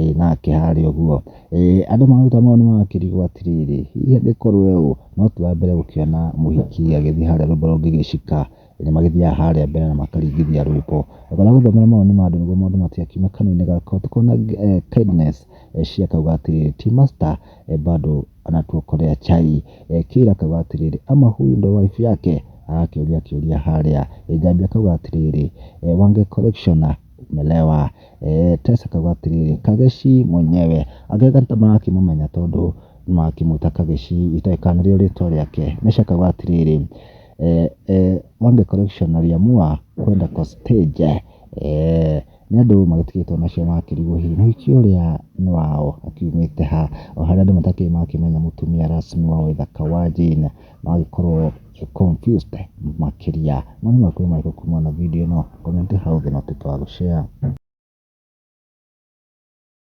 Ĩĩ nake harĩ ũguo, andũ mararuta mawoni ma kĩrĩgo atĩrĩrĩ, hihi angĩkorwo ũũ, no twambĩre gũkĩona mũhiki agĩthiĩ harĩa rwĩmbo rwa Ngĩgĩcika, nĩ magĩthiaga harĩa mbere na makaringithia rwĩmbo. Thutha wa gũthomera mawoni ma andũ nĩguo maũndũ matigakiume kanua-inĩ gakwa, tũkona Kindness Eshie akauga atĩrĩrĩ, ti master bado anatuokolea chai. Kayla akauga atĩrĩrĩ, ama huyu ndio wife yake? agakĩũria kĩũria harĩa. Njambi akauga atĩrĩrĩ, Wange collectioner. kumelewa. Tess akauga atĩrĩrĩ, Kageshi mwenyewe. Agĩetha nĩtamarakĩmũmenya tondũ nĩmarakĩmwĩta Kageshi itoĩ kana nĩrĩo rĩtwa rĩake. Mesha akauga atĩrĩrĩ, Wange correction na Liamua kwenda kwa stage. Nĩ andũ magĩtigĩtwo nacio marakĩrigwo hihi mũhiki ũrĩa nĩ wao akiumĩte ha. O harĩa andũ matakĩrĩ marakĩmenya mũtumia rasmi wa ũthaka wa Jane no agĩkorwo. confused makĩria. Mwana makuru marĩkũ kuma na video ĩno comment hau thĩ na ũtuĩke wa gũ share.